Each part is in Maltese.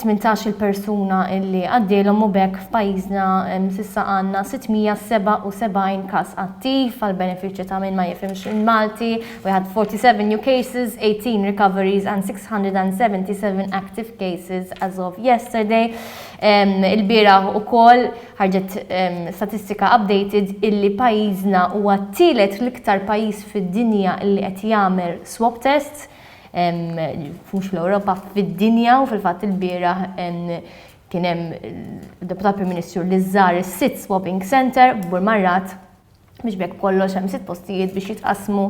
tmintax-il persuna li għaddielhom u b'hekk f'pajjiżna s'issa għandna 677 każ attiv, għall-benefiċċju ta' min ma jifhimx il-Malti, we had 47 new cases, 18 recoveries and 677 active cases as of yesterday. Ilbieraħ ukoll ħarġet statistika updated illi pajjiżna huwa t-tielet l-iktar pajjiż fid-dinja illi qed jagħmel swab tests, mhux fl-Ewropa, fid-dinja u fil-fatt il-bieraħ kien hemm deputat Prim Ministru li żżar is-sit swapping center b'Burmarrat biex bekk kollox hemm sitt postijiet biex jitqasmu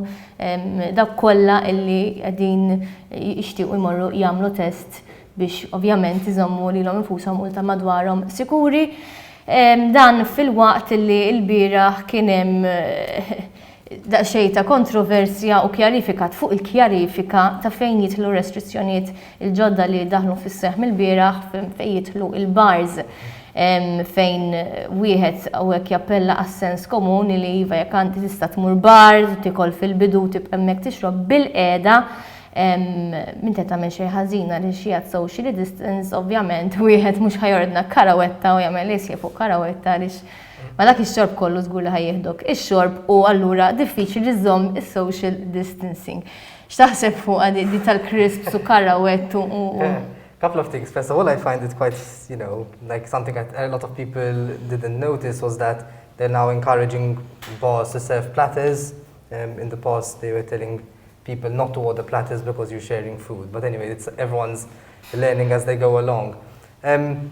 dak kollha illi qegħdin jixtiequ jmorru jagħmlu test biex ovvjament iżommu lilhom infushom u ta' madwarhom sikuri. Dan fil-waqt li l-bieraħ kien hemm Daqsxejn ta' kontroversja u kjarifikat fuq il-kjarifika ta' fejn jidħlu r-restrizzjonijiet il-ġodda li daħlu fis-seħħ mill-bieraħ fejn jidħlu l-bars fejn wieħed hawnhekk jappella għas-sens komuni li iva jekk għandi tista' tmur bar, tiekol fil-bidu u tibqa' hemmhekk tixrob bilqiegħda m'inti tagħmel xejn ħażin għaliex hija t-socially distance, ovvjament wieħed mhux ħa jordna karawetta u jagħmel isjef fuq karawetta għaliex Ma dak ix-xorb kollu żgur li ħa jieħdok ix-xorb u allura diffiċli li żżomm is-social distancing. X'taħseb fuqha di di tal-crisps u karawett u u u? Couple of things. First of all, I find it quite, you know, like something that a lot of people didn't notice was that they're now encouraging bars to serve platters. Um, in the past they were telling people not to order platters because you're sharing food. But anyway, it's everyone's learning as they go along. Um,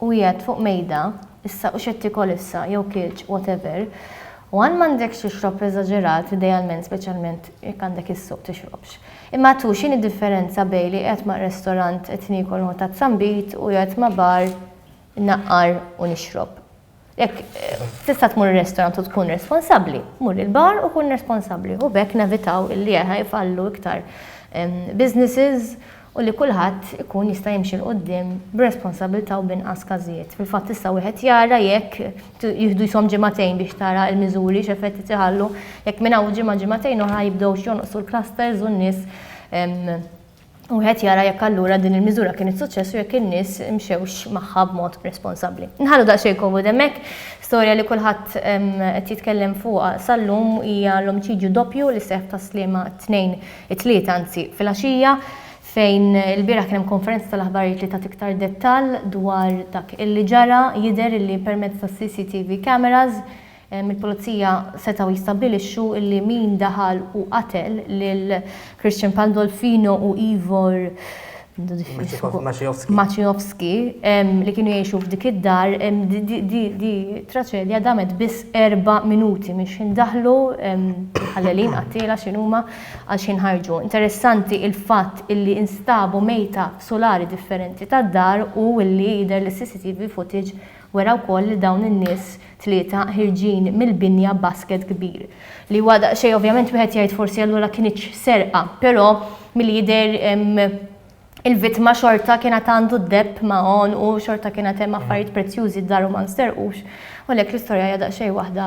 u qiegħed fuq mejda, issa u x'qed tiekol issa, jew kiltx, whatever, u għan m'għandekx tixrob eżaġerat idealment speċjalment jekk għandek is-suq tixrobx. Imma tu x'inhi differenza bejn li qiegħed ma' restorant qed niekol nħu tazzambit u qiegħed ma' bar naqqar u nixrob? Jekk tista' tmur ir-restorant u tkun responsabbli, mur il-bar u kun responsabbli. U b'hekk nevitaw illi jfallu iktar businesses u li kulħadd ikun jista' jimxi 'l quddiem b'responsabbiltà u b'inqas każijiet. Fil-fatt issa wieħed jara jekk jieħdu jishom ġimagħtejn biex tara l-miżuri x'effett qed iħallu. Jekk minn hawn ġimgħa ġimagħtejn oħra jibdewx jonqsu l-clusters u n-nies Wieħed jara jekk allura din il-miżura kienet suċċess u jekk in-nies mxewx magħha b'mod responsabbli. Nħallu daqsxejn komodi hemmhekk. Storja li kulħadd qed jitkellem fuqha sal-lum hija l-omiċidju doppju li seħħ tas-Sliema t-Tnejn, it-Tlieta anzi, filgħaxija, fejn ilbieraħ kien hemm konferenza tal-aħbarijiet li tat iktar dettall dwar dak illi ġara. Jidher illi permezz tas-CCTV cameras, Il-Pulizija setgħu jistabbilixxu li min daħal u qatel lil Christian Pandolfino u Ivor Maciejowski li kienu jgħixu f'dik id-dar, di traċedja damet biss erba' minuti minn x'ħin daħlu l-ħallelin qattiela x'ħin huma għal x'ħin ħarġu. Interessanti l-fatt li instabu mejta f'sulari differenti tad-dar u li jidher li s-CCTV footage Wera wkoll li dawn in-nies tlieta ħirġin mill-binja b'basket kbir. Li huwa daqsxejn ovvjament wieħed jgħid forsi allura kinitx serqa, però milli jidher il-vittma xorta kien għad għandu d-deheb ma' għonqu, xorta kien għad hemm affarijiet prezzjużi d-daru ma nsterqux. U għalhekk l-istorja hija daqsxejn waħda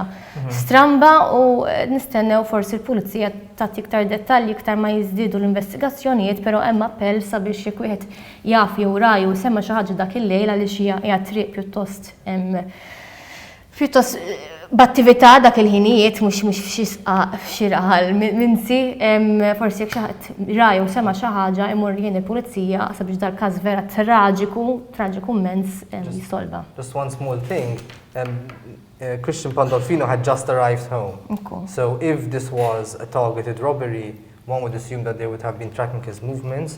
stramba u nistennew forsi l-Pulizija tagħti iktar dettalji iktar ma jiżdiedu l-investigazzjonijiet, però hemm appell sabiex jekk wieħed jaf jew ra jew sema' xi ħaġa dak il-lejl għaliex hija hija triq pjuttost pjuttost b'attività dak il-ħinijiet mhux mhux f'xi sqaq f'xi raħal minsi, forsi jekk xi ħadd ra jew sema' xi ħaġa jmur jgħin il-pulizija sabiex dal-każ vera traġiku, traġiku mmens jissolva. Just one small thing, Christian Pandolfino had just arrived home. Ekku. So if this was a targeted robbery, one would assume that they would have been tracking his movements,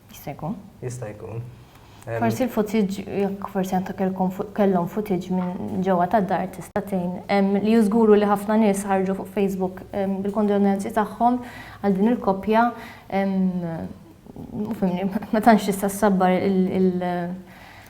Jista' jkun. Jista' jkun. Forsi l-footage, jekk forsi għantak kellhom footage minn ġewwa tad-dar tista' tgħin. Li żguru li ħafna nies ħarġu fuq Facebook bil-kondolenzi tagħhom għal din il-koppja. Fimni, ma tantx tista' ssabbar il-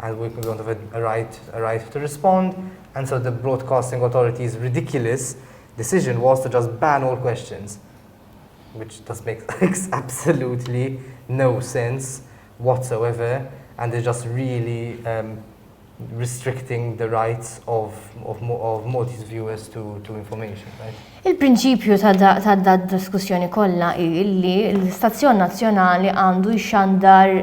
and we can go into the right, right to respond, and so the broadcasting authority's ridiculous decision was to just ban all questions, which just makes absolutely no sense whatsoever, and is just really um, restricting the rights of, of, of Maltese viewers to, to information. Right? Il-prinċipju ta' da diskussjoni kollha hi li l-istazzjon nazzjonali għandu jxandar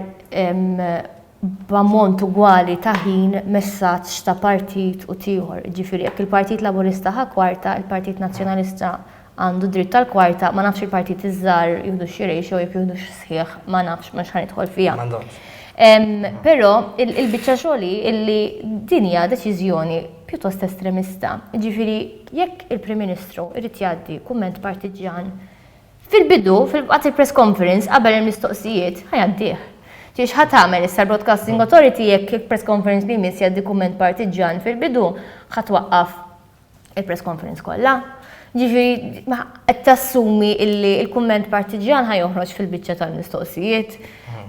b'ammont ugwali ta' ħin messaġġ ta' partit u t'ieħor. Jiġifieri jekk il-Partit Laburista ħa kwarta, il-Partit Nazzjonalista għandu dritt tal-kwarta, ma nafx il-partiti ż-żgħar jieħdux xi ratio jekk jieħdux sħiħ ma nafx mhux ħa nidħol fiha. Però il-biċċa xogħol hi illi din hija deċiżjoni pjuttost estremista. Jiġifieri jekk il-Prim Ministru jrid jgħaddi kumment partiġġjan Fil-bidu, fil-waqt il-press conference qabel il-mistoqsijiet, ħa jgħaddih. Ġieli x'ħa tagħmel issa l-Broadcasting Authority jekk il-press conference li jmiss jgħaddi kumment partiġġjan fil-bidu, ħa twaqqaf il-press conference kollha? Jiġifieri qed tassumi illi l-kumment partiġġjan ħa joħroġ fil-biċċa tal-mistoqsijiet.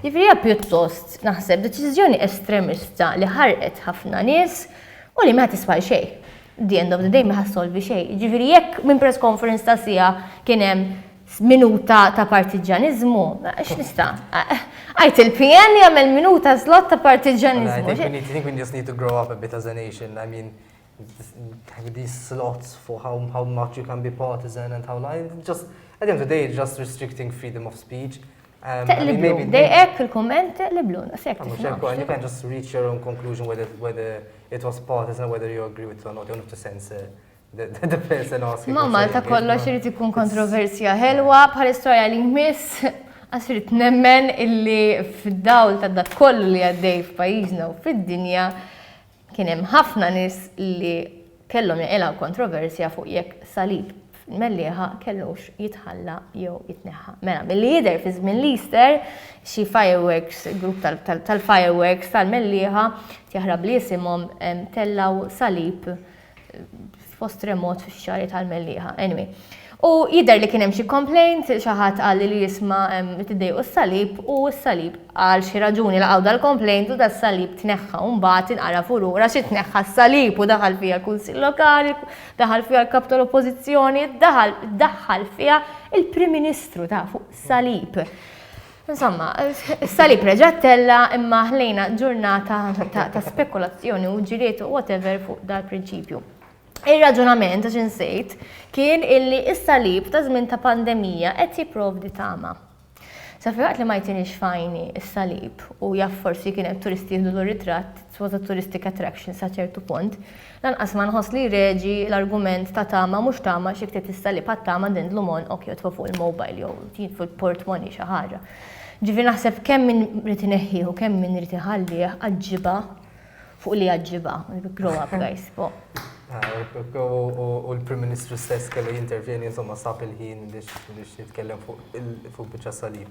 Jiġifieri hija pjuttost, naħseb, deċiżjoni estremista li ħarqet ħafna nies u li ma tiswa' għal xejn. the end of the day ma ħassolvi xejn. Jiġifieri jekk minn press conference ta' siegħa kien hemm minuta ta' partiġġaniżmu, x'nista'? Għid il-PN jagħmel minuta slot ta' partiġġaniżmu. I think we just need to grow up a bit as a nation. I mean, having these slots for how, how much you can be partisan and how not, just, at the end of the day, just restricting freedom of speech. Um, Teqliblu, dejqek il-komment teqliblu, naqsek. You can just reach your own conclusion whether, whether it was partisan, whether you agree with it or not, you have to sense uh, the, the person asking. Ma Malta kollox irid ikun kontroversja ħelwa bħal istorja li miss għax irid nemmen illi fid-dawl ta' dak kollu li għaddej f'pajjiżna u fid-dinja Kien hemm ħafna nies li kellhom jaqilgħu kontroversja fuq jekk salib fil-Mellieħa kellux jitħalla jew jitneħħa. Mela, milli jidher fi żmien l-Easter, xi fireworks, grupp tal-fireworks tal-Mellieħa, tjaħrab li jisimhom tellgħu salib fost remot fix xari tal-Mellieħa. Anyway. U jidher li kien hemm xi complaint, xi ħadd qal li jisma' tiddejqu s-salib u s-salib għal xi raġuni laqgħu dal-complaint u das-salib tneħħa u mbagħad inqara fuq lura xi tneħħa s-salib u daħal fiha l-Kunsill Lokali, daħal fiha l-Kap tal-Oppożizzjoni, daħal daħħal fiha il-Prim Ministru ta' fuq salib. Insomma, salib reġattella imma ħlejna ġurnata ta' spekulazzjoni u ġiliet u whatever fuq dal-prinċipju. Ir-raġunament għax insejt kien illi is-salib ta' żmien ta' pandemija qed jipprovdi tama. Sa fiħat li ma jtinix fajni is-salib u jaff forsi kienet turisti jihdu l-ritratt sod ta' touristic attraction sa ċertu punt, lanqas ma nħoss li jreġi l-argument ta' tama mhux tama xi ktieb tista' li bħat-tama din dlumon ok jotfa' fuq il-mobile jew jien fuq il-portmoni xi ħaġa. Ġifieri naħseb kemm min irid ineħħih u kemm min irid iħallih għaġġibha fuq li għaġġibha. Grow up guys. U l-Prim Ministru stess kellu jintervjeni insomma sab il-ħin biex jitkellem fuq biċċa salib.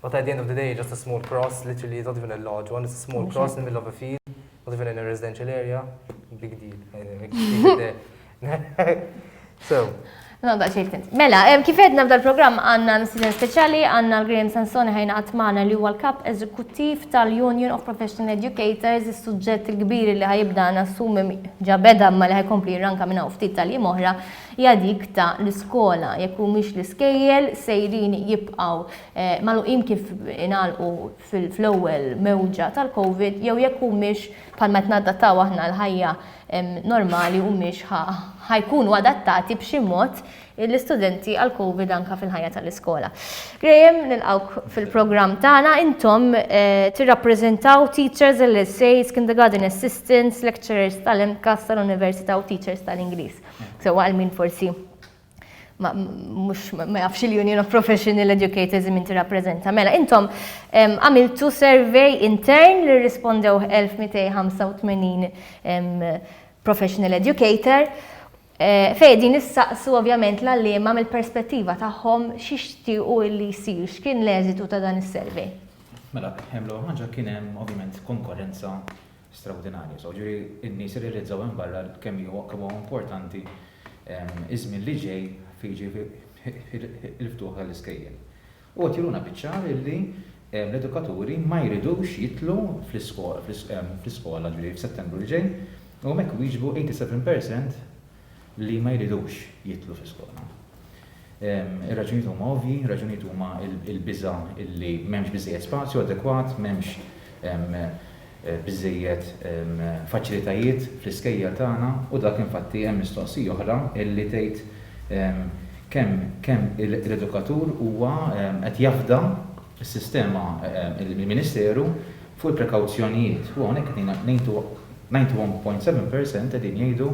But at the end of the day, just a small cross, literally it's not even a lodge, one is a small cross in the middle of a field, not even in a residential area, big deal. so, No, da xejn kent. Mela, kif edna b'dal programm għandna msiden speċjali għandna l-Graham Sansoni ħajna għatmana li huwa l-kap eżekuttiv tal-Union of Professional Educators, is-suġġett il-kbir li ħajibda nassumi ġabeda ma li ħajkompli ranka minna ftit tal-jiem oħra hija dik ta' l-iskola jekk humiex l-iskejjel sejrin jibqgħu magħluqin kif ingħalqu fl-ewwel mewġa tal-Covid jew jekk humiex bħalma qed nadattaw aħna għall-ħajja normali humiex ħa jkunu adattati b'xi mod l-istudenti għall-Covid anke fil-ħajja ta' l-iskola. Graham, nilqgħuk fil-programm tagħna, intom tirrappreżentaw teachers, LSAs, kindergarten assistants, lecturers tal-MCASS tal-Università u teachers tal-Ingliż. Sewa għal min forsi ma jafx il-Union of Professional Educators minn tirrappreżenta. Mela, intom għamiltu survey intern li rispondew 1285 professional educator eh, fej din issaqsu ovvjament l-allima mill-perspettiva tagħhom xixtiequ li jsir x'kien l-eżitu ta' dan is-survey. Mela, hemm l ħaġa kien hemm ovvjament konkurrenza strawdinarja. So, ġifieri n-nies irrealizzaw hemm barra kemm huwa kemm huwa importanti ż-żmien li ġej fi jiġifieri il-ftuħ tal-iskejjel. U qed juruna biċ-ċar illi l-edukaturi ma jridux jidħlu fl-iskola ġifieri f'Settembru li ġej u hemmhekk wieġbu 87% li ma jridux jidħlu fl-iskola. Ir-raġunijiet huma ovvji, ir-raġunijiet huma l-biża' li m'hemmx biżżejjed spazju adekwat, m'hemmx biżżejjed faċilitajiet fl-iskejjel tagħna u dak infatti hemm mistoqsija oħra li tgħid kemm l-edukatur huwa qed jafda is-sistema mill-Ministeru fuq il-prekawzjonijiet u hawnhekk qed ninety one point seven per cent qegħdin jgħidu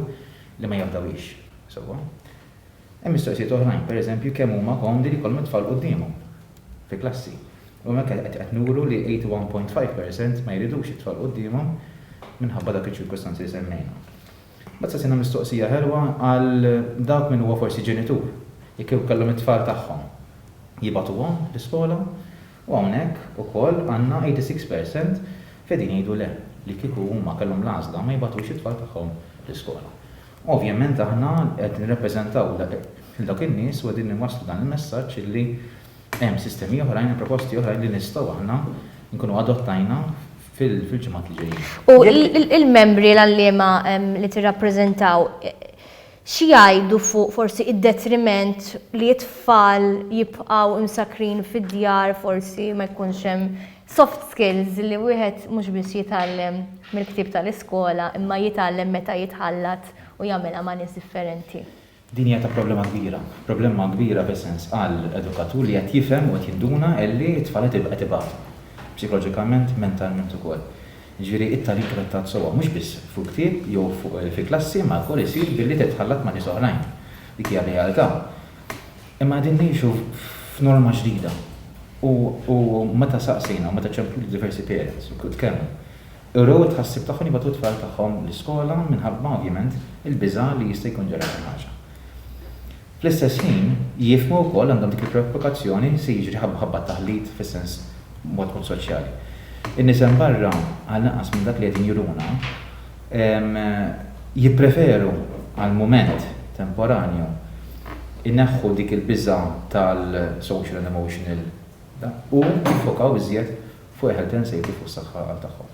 li ma jafdawhiex sewwa. Hemm mistoqsijiet oħrajn, pereżempju kemm huma komdi li jkollhom it-tfal quddiemhom fi klassi. U hemmhekk qed nuru li eighty one point five per cent ma jridux it-tfal quddiemhom minħabba dawk iċ-ċirkustanzi li semmejna. Mbagħad saqsina mistoqsija ħelwa għal dawk min huwa forsi ġenitur, jekk kieku kellhom it-tfal tagħhom jibagħtuhom l-iskola u hawnhekk ukoll għandna 86 percent li qegħdin jgħidu le, li kieku huma kellhom l-għażla ma jibagħtux it-tfal tagħhom l-iskola. Ovvjament aħna qed nirrappreżentaw lil dawk in-nies u qegħdin inwasslu dan il-messaġġ illi, Hemm sistemi oħrajn u proposti oħrajn li nistgħu aħna nkunu adottajna fil-ġimgħat li ġejjin. U il-membri l-għalliema li tirrappreżentaw xi jgħidu fuq forsi id-detriment li t-tfal jibqgħu imsakkrin fid-djar forsi ma jkunx hemm soft skills li wieħed mhux biss jitgħallem mill-ktieb tal-iskola imma jitgħallem meta jitħallat u jagħmilha ma' nies differenti? Din hija ta' problema kbira. Problemma kbira b'esens għal edukatur li qed jifhem u qed jinduna illi t-tfal qed qed ibatu. Psikoloġikament, mentalment ukoll. Jiġifieri it-tagħlim trattat sewwa mhux biss fuq ktieb jew fuq fi klassi imma wkoll isir billi titħallat ma' nies oħrajn. Dik hija r-realtà. Imma qegħdin ngħixu f'norma ġdida u u meta saqsejna u meta ċemplu lil diversi parents u tkellmu Urew it-tħassib tagħhom jibgħatu t-tfal tagħhom l-iskola minħabba, ovvjament, il-biża' li jista' jkun ġara xi ħaġa. Fl-istess ħin, jifhmu wkoll, għandhom dik il-preokkupazzjoni, se jiġri ħabba t-taħlit fis-sens mod mod soċjali. In-nies hemm barra, għal inqas minn dak li qegħdin juruna, jippreferu għal mument temporanju jneħħu dik il-biża' tal-social and emotional u jiffokaw iżjed Fuq il-health and safety fuq is-saħħa għal tagħhom.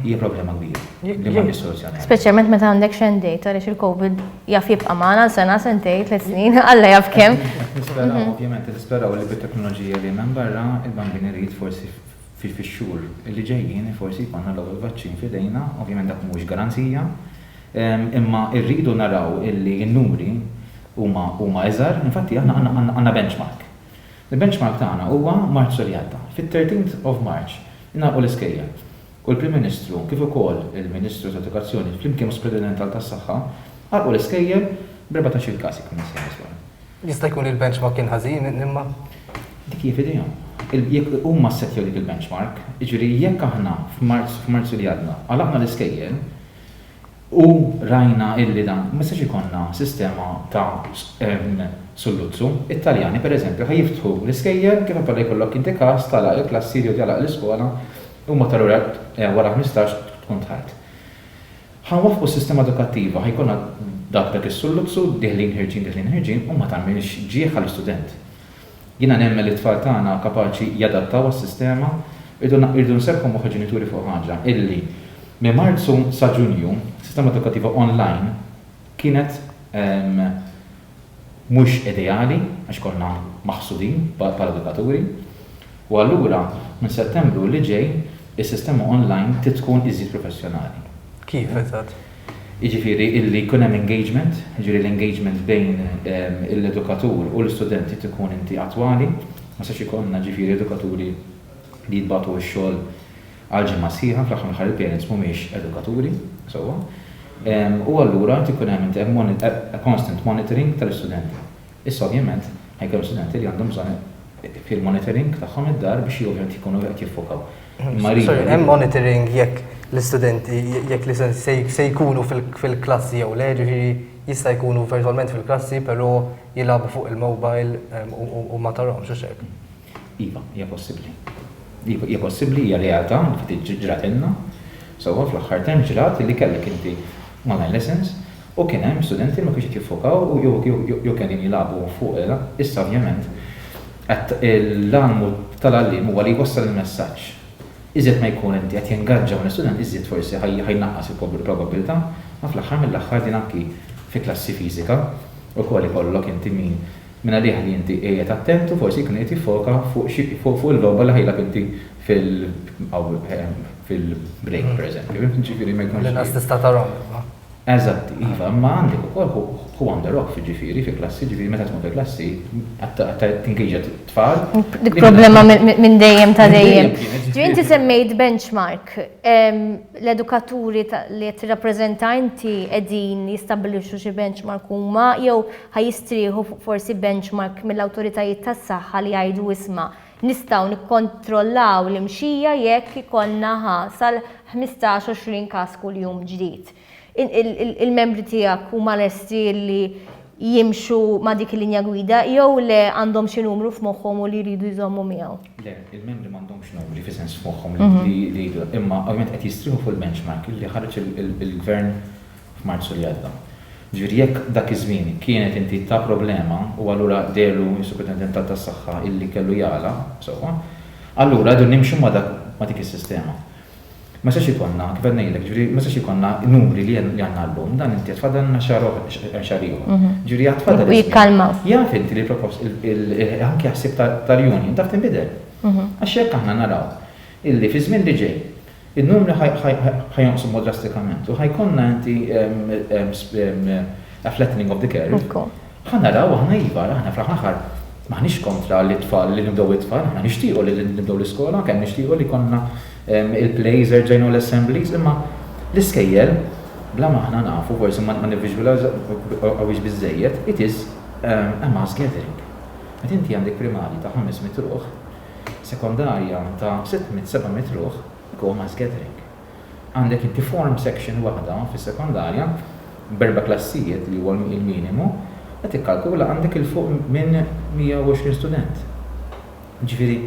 Hija problema kbira li m'għandhiex soluzzjoni. Speċjalment meta għandek xejn dejta għaliex il-COVID jaf jibqa' magħna għal sena, sentej, tliet snin, Alla jaf kemm. Nisperaw, ovvjament, nisperaw li bit-teknoloġija li hemm hemm barra, il-bambin irid forsi fix-xhur li ġejjin forsi jkollna l-ewwel vaċċin f'idejna, ovvjament dak mhuwiex garanzija, imma rridu naraw illi n-numri huma iżgħar, infatti aħna għandna benchmark. Il-benchmark tagħna huwa Marzu li għadda. Fit-thirteenth of March ingħalqu l-iskejjel u l-Prim Ministru kif ukoll il-Ministru tal-Edukazzjoni flimkien mas-Supredinent tal-tas-Saħħa għalqu l-iskejjel b'erbatax-il każ jekk immur sew żball. Jista' jkun li l-benchmark kien ħażin imma. Dik hija f'idejhom. Jekk huma ssettjaw dik il-benchmark, jiġifieri jekk aħna f'Marzu li għadda għalaqna l-iskejjel, U rajna illi dan ma jistax ikollna sistema ta' sulluzzu. It-Taljani, per eżempju, ħa jiftħu l-iskejjel, kif appella jkollok inti każ, tagħlaq il-klassi jew tagħlaq l-iskola, huma ta' lura wara ħmistax tkun dħalt. Ħa nwaffqu s-sistema edukattiva, ħa jkollna dak dak is-sulluzzu, dieħlin ħirġin dieħlin ħirġin, u ma tagħmilx ġieħ għall-istudent. Jiena nemmen li t-tfal tagħna kapaċi jadattaw għas-sistema. Irdu nserrħu moħħ il-ġenituri fuq ħaġa, illi minn Marzu sa Ġunju s-sistema edukattiva online kienet mhux ideali għax konna maħsudin bħala edukaturi u allura minn Settembru li ġej is-sistema online trid tkun iżjed professjonali. Kif eżatt? Jiġifieri illi jkun hemm engagement, jiġifieri l-engagement bejn l-edukatur u l-istudent irid ikun inti attwali, ma jistax ikollna ġifieri edukaturi li jitbagħtu x-xogħol għal ġimgħa sħiħa, fl-aħħar mill-aħħar il-parents mhumiex edukaturi sewwa. U allura irid ikun hemm constant monitoring tal-istudenti. Issa ovvjament ħa jkun hemm studenti li għandhom bżonn fil-monitoring tagħhom id-dar biex ovvjament jkunu qed jiffokaw. Imma rridu. Sorry, hemm monitoring jekk l-istudenti jekk l-istudenti se jkunu fil-klassi jew le, ġifieri jista' jkunu virtwalment fil-klassi però jilagħbu fuq il-mobile u ma tarahomx, hux hekk? Iva, hija possibbli. Hija possibbli, hija realtà li ftit ġratilna sewwa fl-aħħar term ġrat li kellek inti online lessons u kien hemm studenti li ma kienux qed jiffokaw jew qegħdin jilagħbu fuq il. Issa ovvjament l-għan tal-għalliem huwa li jwassal il-messaġġ. Iżjed ma jkun inti qed tingaġġa mal-istudent iżjed forsi ħa jnaqqas il-probabbiltà ma fl-aħħar mill-aħħar din anki fi klassi fiżika wkoll ikollok inti min Mingħalih li inti qiegħed attent u forsi jkun qiegħed jiffoka fuq xi fuq il-logħba li ħa jilgħab inti fil fil-break pereżempju. Jiġifieri ma jkunx. L-inqas tista' tarahom iva. Eżatt, iva, imma għandek ukoll hu hu on the roff jiġifieri fi klassi, jiġifieri meta tkun fi klassi tingaġġa t-tfal. Dik problema minn dejjem ta' dejjem. Ġifieri inti semmejt benchmark. L-edukaturi li qed tirrappreżenta inti qegħdin jistabbilixxu xi benchmark huma jew Ħa jistrieħu fuq forsi benchmark mill-awtoritajiet tas-saħħa li jgħidu isma', nistgħu nikkontrollaw l-imxija jekk ikollna ħa sal-ħmistax, għoxrin każ kuljum ġdid. Il-membri tiegħek huma lesti li jimxu ma' dik il-linja gwida jew le għandhom xi numru f'moħħhom u li jridu jżommu miegħu? Le, il-membri m'għandhomx numri fi sens f'moħħhom li jridu, imma ovvjament qed jistrieħu fuq il-benchmark li ħareġ il-Gvern f'Marzu li għadda. Jiġifieri jekk dak iż-żmien kienet inti ta' problema u allura deherlu s-Superintendentat tas-Saħħa illi kellu jagħlaq, sewwa, allura rridu nimxu ma' dak ma' dik is-sistema. Ma jistax ikollna, kif qed ngħidlek, jiġifieri ma jistax ikollna numri li għandna llum, dan inti għad tfadalna xahar oħra, xahar ieħor. Jiġifieri għad tfadal iż-żmien. U jikkalmaw. Jaf inti li l-propost, anki l-ħsieb tal-union taf tinbidel. Għax jekk aħna naraw illi fiż-żmien li ġej In-numri ħa jonqsu mod drastikament u ħa jkollna anti a flattening of the curve. Ħa naraw aħna iva, aħna fl-aħħar mill-aħħar m'aħniex kontra li t-tfal, li nibdew it-tfal, aħna nixtiequ li nibdew l-iskola, kemm nixtiequ li jkollna il-plays erġajn u l-assemblies, imma l-iskejjel, bla ma aħna nafu, forsi ma nivviżwilawhiex biżżejjed, it is a mass gathering. Meta inti għandek primarji ta' 500 ruħ, sekondarja ta' 600, 700 ruħ go mass gathering. Għandek inti form section waħda fis-sekondarja b'erba' klassijiet li huwa l-minimu qed tikkalkula għandek 'il fuq minn 120 student. Jiġifieri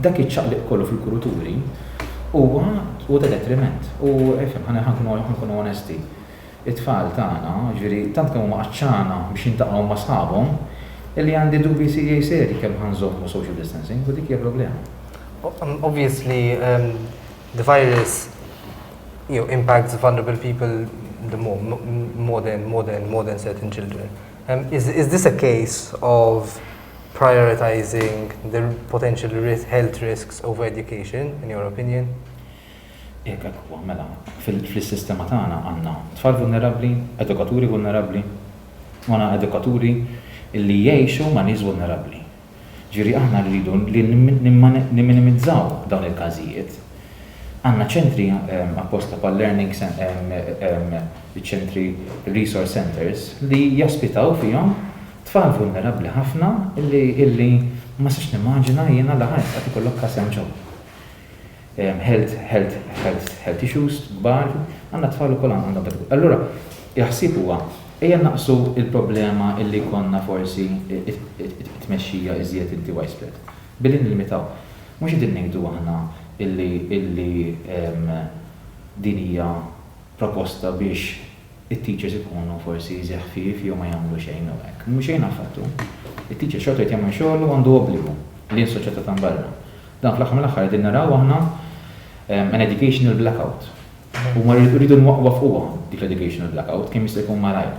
dak iċ-ċaqliq kollu fil-kuruturi huwa ta' detriment u ifhem ħa nkunu onesti. It-tfal tagħna, jiġifieri, tant kemm huma għatxana biex jiltaqgħu ma' sħabhom, illi għandi dubji serjej serji kemm ħa nżommu social distancing, u dik hija problema. Obvious li the virus impacts vulnerable people the more, more than, more than, more than certain children. Is this a case of prioritizing the potential health risks over education, in your opinion? Jekk hekk huwa, mela, fl-sistema tagħna għandna tfal vulnerabbli, edukaturi vulnerabbli, u għandna edukaturi li jgħixu ma' nies vulnerabbli. Jiġifieri aħna rridu li nimminimizzaw dawn il-każijiet. Għandna ċentri apposta bħal learning iċ-ċentri resource centres li jospitaw fihom tfal vulnerabbli ħafna li ma nistax nimmaġina jiena li ħa jista' ikollok każ hemm ġewwa. health health health health issues kbar, għandna t-tfal ukoll għandhom dak il-. Allura, il-ħsieb huwa, ejja nnaqqsu l-problema illi jkollna forsi t-tmexxija iżjed inti widespread, billi nillimitaw. Mhux qegħdin ngħidu aħna illi illi din hija proposta biex it-teachers ikunu forsi zi ħfief jew ma jagħmlu xejn jew hekk. Mhu xejn affattu. It-teacher xorta jrid jagħmel xogħlu u għandu obbligu lejn is-soċjetà ta' mbarra. Dan fl-aħħar mill-aħħar qegħdin naraw aħna an educational blackout. U ma rridu nwaqqfuha dik l-educational blackout kemm jista' jkun malajr.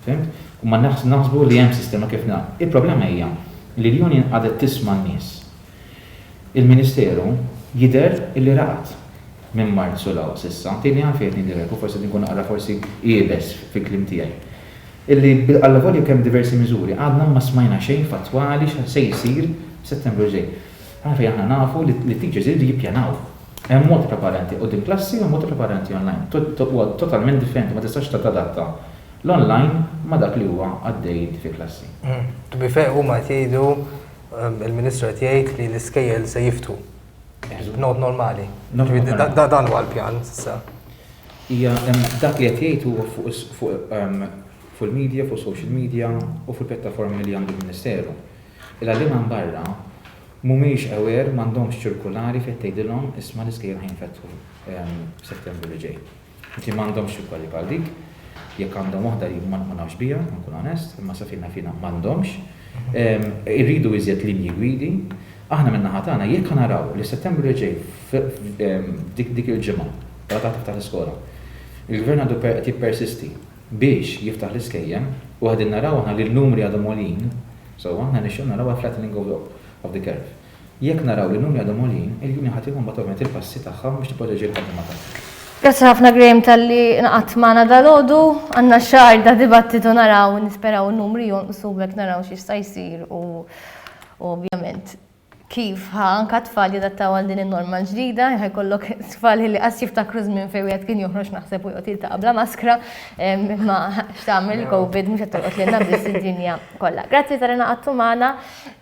Fimt? U ma naħsbu li hemm sistema kif nagħmlu. Il-problema hija li l-union qagħdet tisma' n-nies. Il-Ministeru jidher li raqad minn Marzu 'l hawn s'issa, tieni għan fejn qed ngħidilek u forsi qed inkun naqra forsi iebes fil-kliem tiegħi, illi allavolja kemm diversi miżuri għadna ma smajna xejn fattwali x'għad se jsir f'Settembru li ġej. Għan fejn aħna nafu li t-teachers iridu jippjanaw. Hemm mod preparanti quddiem klassi u hemm mod preparanti online. Huwa totalment differenti, ma tistax tadatta l-online ma' dak li huwa għaddej inti fil-klassi. To be fair huma qed jgħidu Il-Ministru qed jgħid li l-iskejjel se jiftħu. B'nod normali. Dan huwa l-pjan s'issa. Hija dak li qed jgħid huwa fuq il-media, fuq social media u fil-pjattaformi li għandu l-Ministeru. Il-għalliema minn barra mhumiex aware, m'għandhomx ċirkulari fejn tgħidilhom isma' l-iskejjel ħa jinfetħu f'Settembru li ġej. li m'għandhomx xi kwalità bħal dik, jekk għandhom waħda jien ma nafx biha, inkun onest, imma sa fejn naf jiena m'għandhomx, irridu iżjed linji gwidi. Aħna min-naħa tagħna jekk naraw li Settembru li ġej f'dik il-ġimgħa wara ta' tiftaħ l-iskola, il-Gvern għadu qed jippersisti biex jiftaħ l-iskejjel u qegħdin naraw aħna li n-numri għadhom għoljin, so aħna nixtiequ naraw a flattening of the curve. Jekk naraw li l-linji għadhom għoljin, il-linja ħa tieħu mbagħad ovvjament il-passi tagħha biex tipproteġi l-ħaddiema tagħha. Grazzi ħafna Graham talli inqgħadt magħna dalgħodu. Għandna xahar ta' dibattitu naraw, nisperaw in-numri jonqsu b'hekk naraw x'jista' jsir u ovvjament kif ħa anke t-tfal jadattaw għal din in-norma l-ġdida. Ħa jkollok tfal li qas jiftakru żmien fejn wieħed kien joħroġ naħseb u joqgħod jiltaqa' bla maskra imma x'tagħmel il-Covid mhux qed tolqot lilna biss id-dinja kollha. Grazzi talli naqgħadtu magħna.